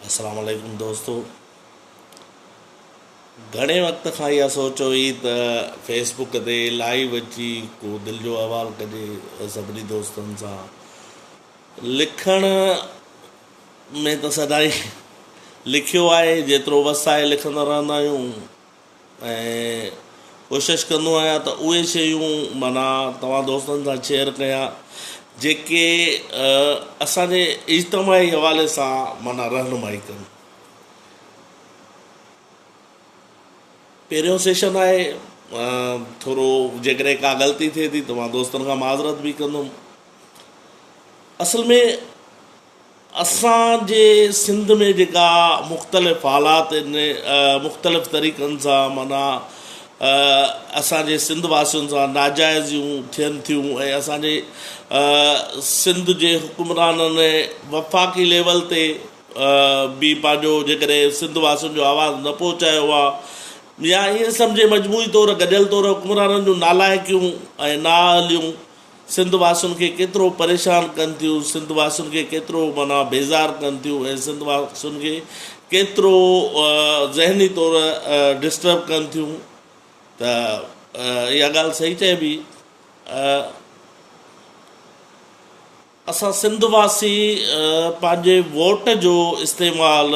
السلام عليڪم دوستو گهڻي وقت کان اها سوچ هئي ته فيس بڪ تي لائيو اچي ڪو دل جو احوال ڪجي سڀني دوستن سان لکڻ ۾ ته سدائي لکيو آهي جيترو وس آهي لکندا رهندا آهيون ۽ ڪوشش ڪندو آهيان ته اهي شيون معنيٰ توهان دوستن سان شيئر ڪيان جيڪي اسانجي اجتماعي حوالي سان معنيٰ رهنمائي ڪن. پهريون سيشن آهي ٿورو جيڪڏهن ڪا غلطي ٿئي ٿي ته مان دوستن کان معذرت به ڪندم اصل ۾ اسان جي سنڌ ۾ جيڪا مختلف حالات ان مختلف طريقن سان معنيٰ اسان جي سنڌ واسين سان ناجائزيون ٿين ٿيون ۽ اسان جي سنڌ جي حڪمرانن وفاقي ليول تي به پنهنجو جيڪڏهن سنڌ واسين جو آواز نه پهچايو آ يا ائين سمجهي مجموعي طور گڏيل طور حڪمرانن جون نالائقيون ۽ نااهليون سنڌ واسين کي ڪيترو پريشان ڪن ٿيون، سنڌ واسين کي ڪيترو معنيٰ بيزار ڪن ٿيون ۽ سنڌ واسين کي ڪيترو ذهني طور ڊسٽرب ڪن ٿيون ته اها ڳالهه صحيح چئبي. اسان سنڌ واسي پنهنجي ووٽ جو استعمال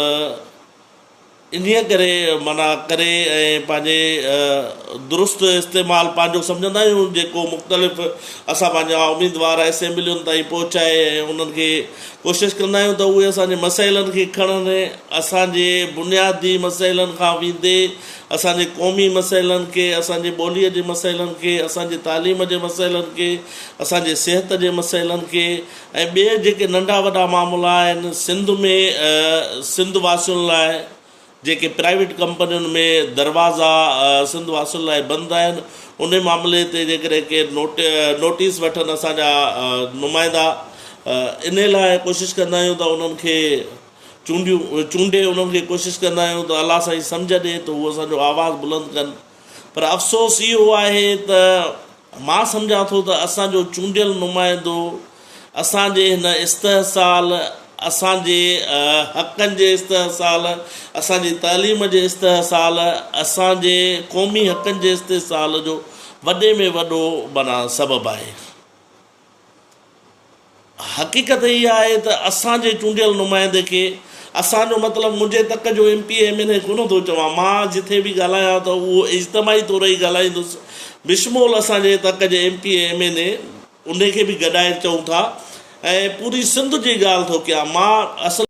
انهيء ڪري منع ڪري ۽ پنهنجي درست استعمال پنهنجو سمجهندا آهيون جيڪو مختلف اسان پنهنجا اميدوار اسيمبلين تائين پهچائي ۽ انهن کي ڪوشش ڪندا آهيون ته اهي اسان جي مسئلن کي کڻن اسان جي بنيادي مسئلن کان ويندي اسان جي قومي مسئلن کي اسان جي ٻولي جي مسئلن کي اسان جي تعليم جي مسئلن کي اسان جي صحت جي مسئلن کي ۽ ٻي جيڪي ننڍا وڏا معاملا آهن سنڌ ۾ سنڌ واسين لاء جيڪي پرائيويٽ ڪمپنين ۾ دروازا سنڌ واسين لاء بند آهن انهي معاملي تي جيڪڏهن ڪي نوٽيس وٺن اسان جا نمائندا انهي لاء ڪوشش ڪندا آهيون ته انهن کي چونڊيون چونڊي انهن کي ڪوشش ڪندا آهيون ته الله سائين سمجهه ڏي ته هو اسان جو آواز بلند ڪن پر افسوس اهو آهي ته مان سمجهان ٿو ته اسان جو چونڊيل نمائندو اسان جي هن استحصال، اسان جي حقن جي استحصال، اسان جي تعليم جي استحصال، اسان جي قومي حقن جي استحصال جو وڏي ۾ وڏو معنيٰ سبب آهي. حقيقت اها آهي ته اسان جي چونڊيل نمائندي کي اسان جو مطلب منهنجي تڪ جو M P A M N A ڪونه ٿو چوان مان جٿي به ڳالهايان ته اهو اجتماعي طور ئي ڳالهائيندس بشمول اسان جي تڪ جي M P A M N A انهي کي به گڏائي چئون ٿا ۽ پوري سنڌ جي ڳالهه ٿو ڪيان مان اصل